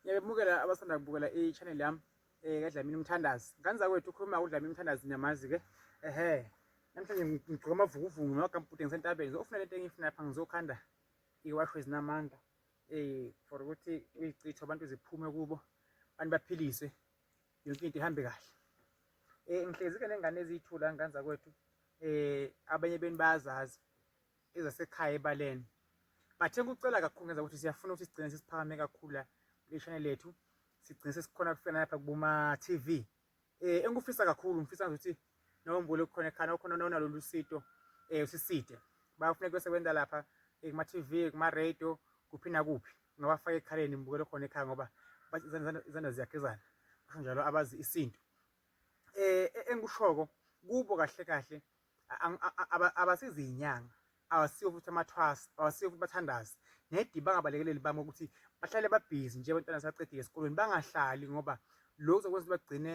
Ngiyabemukela abasanda kubukela i-channel yami eh kaDlamini Mthandazi. Ngane zakwethu ukhuluma uDlamini Mthandazi niyamazi ke. Ehhe. Namhlanje ngigqoka amavukuvuku ngamagambhude ngisentabeni ngizofuna lento engiyifuna lapha ngizokhanda iwasho ezinamandla eh for ukuthi uyichithe abantu ziphume kubo abantu baphiliswe yonke into ihambe kahle. Eh ngihlezi ke nengane eziyithula ngane zakwethu eh abanye beni bayazazi ezasekhaya ebaleni bathe kucela kakhulu ngenza ukuthi siyafuna ukuthi sigcine sesiphakame kakhulu la kule channel yethu sigcine sesikhona kufika lapha kubuma TV eh engikufisa kakhulu ngifisa ukuthi nombule ukukhona ekhana okhona nonalo lusito eh usiside bayafuna kube sebenza lapha eh, kuma TV kuma radio kuphi nakuphi ngabafaka ekhaleni ngibukele khona ekhaya ngoba izandla ziyakezana kanjalo abazi isintu eh e, engikushoko kubo kahle kahle abasizi inyanga abasiyo futhi amathwasa abasiyo futhi bathandazi nedi bangabalekeleli bami ukuthi bahlale babhizi nje abantwana sacedile esikolweni bangahlali ngoba lokhu zokwenza ukuthi bagcine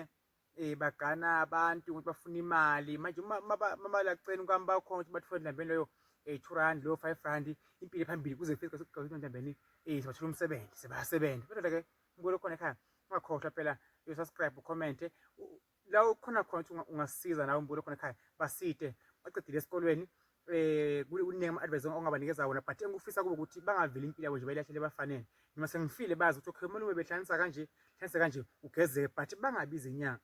um bagana abantu ukuthi bafuna imali manje mabalaceni kwami bakhona ukuthi bathole ndambeni leyo um two rand leyo five rand impilo phambili kuze kufike sekugqakuthi ndambeni um sibathole umsebenzi sebayasebenza kodwa-ke umbulo khona ekhaya ungakhohlwa phela uyosubscribe ucommente la ukhona khona ukuthi ungasiza nawe umbulo khona ekhaya basite baqedile esikolweni eh kuningi ama-advice ongabanikeza wona but engikufisa kubo ukuthi bangaveli impilo yabo nje bayilahlele bafanele noma sengifile bazi ukuthi okay umalume behlanisa kanje hlanisa kanje ugezeke but bangabi izinyanga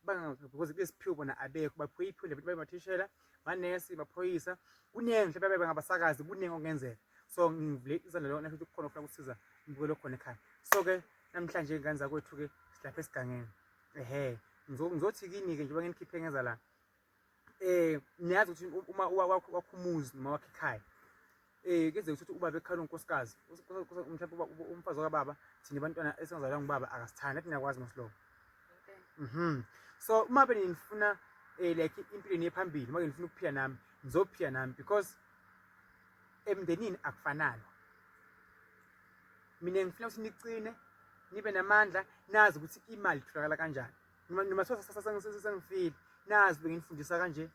because kulesiphiwo bona abekho baphiwe iphinde futhi bayimathishela manesi baphoyisa kuningi mhlawumbe babe ngabasakazi kuningi okungenzeka so ngivule izandla lona ukuthi kukhona ofuna ukusiza ngibukele khona ekhaya so ke namhlanje ingane zakwethu ke silapha esigangeni ehe ngizothi kini-ke njengoba nginikhiphe ngeza la um niyazi ukuthi uma wakho umuzi noma wakho ikhaya um kenzeka ukuthi ubaba ekhala unkosikazi mhlawumbe umfazi wakababa thina abantwana esingazalwa ngubaba akasithandi athi niyakwazi mosilobo mhm so uma be nifuna um eh, like impilo niye phambili uma ke nifuna ukuphila nami ngizophila nami because emndenini akufanani mina ngifuna ukuthi niqine nibe namandla nazi ukuthi imali itholakala kanjani noma sengifile nazi benginifundisa kanje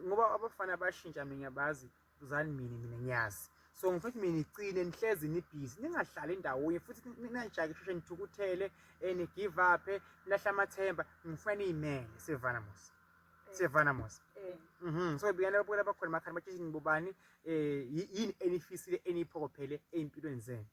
ngoba abafana bashintsha mina ngiyabazi uzani mina mina ngiyazi so ngifuna ukuthi mina niqine nihlezi nibhizi ningahlali ndawonye futhi ninajake sheshe nithukuthele and eh, give up eh, nilahle amathemba ngifuna niyimele sevana musa siyevana mos eh. mhm. so bikana babuke labakhona emakhanda batsheshe nibobani um eh, yini enifisile eniyiphokophele ey'mpilweni zenu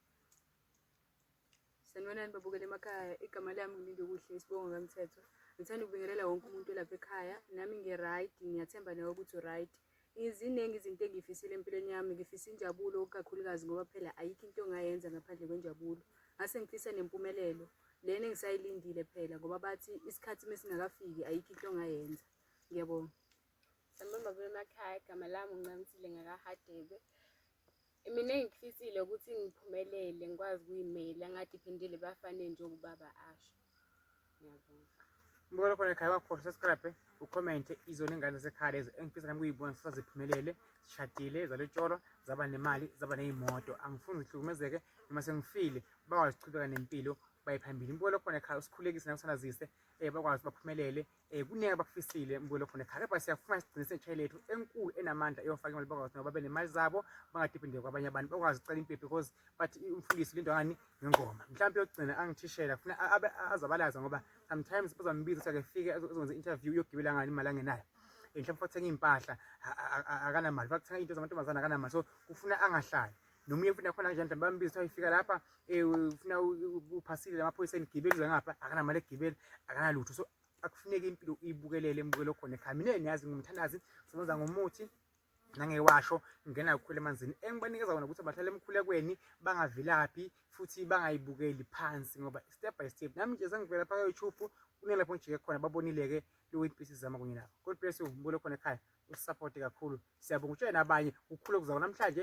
sanibonani babukela emakhaya igama lami ngilinde kuhle isibongo kamthetho ngithanda ukubingelela wonke umuntu olapha ekhaya nami ngi-right ngiyathemba nawe ukuthi u-right um Ziningi izinto engiyifisile empilweni yami, ngifisa injabulo kakhulukazi ngoba phela ayikho into ongayenza ngaphandle kwenjabulo. Ngase ngifisa nempumelelo lena engisayilindile phela ngoba bathi isikhathi uma singakafiki ayikho into ongayenza. Ngiyabonga. Sambamba kule makhaya, igama lami uNcamisile ngakaHadebe. Mina engikufisile ukuthi ngiphumelele ngikwazi ukuyimela ngadiphendeli ebafaneni njengoba ubaba asho. Ngiyabonga. Mbona khona ekhaya wakhohlwa subscribe ucommente izona ingane zekhaya lezo engifisa nami kuyibona sifuna ziphumelele zishadile zalotsholwa zaba nemali zaba ney'moto angifuni zihlukumezeke noma sengifile bakwazi ukuchubeka nempilo baye phambili mbuko lokhona ekhaya usikhulekise nakusana zise um bakwazi baphumelele Eh kuningi abakufisile mbuyelo khona ekhaya kepha siyafuna sigcine setshayi lethu enkulu enamandla eyofaka imali bakwazi nabo babe nemali zabo bangadiphendeki kwabanye abantu bakwazi ukucela impepho because bathi umfundisi lindwa ngani ngengoma mhlawumbe yokugcina angithishela funa azabalaza ngoba sometimes bazambiza ukuthi akefike azokwenza interview yokugibela ngani imali angenayo eh, mhlawumbe fathenga iy'mpahla akanamali fathenga into zamantombazane akanamali so kufuna angahlali nomunye futhi nakhona kanjani mhlawumbe bambiza kuthiwa ifika lapha um ufuna uphasile amaphoyisa enigibeli uze ngapha akanamali egibeli akanalutho so akufuneki impilo uyibukelele embukelo khona ekhamineni yazi ngumthandazi sebenza ngomuthi nangewasho ngena kukhulu emanzini engibanikeza kona ukuthi bahlale emkhulekweni bangavilaphi futhi bangayibukeli phansi ngoba step by step nami nje sengivela pha youtube kunelapho ngijike khona babonile-ke loweintpisi zama kunye nabo god bless you mbulo khona ekhaya usisaphote kakhulu siyabonga utshele nabanye kukhulu okuzawo namhlanje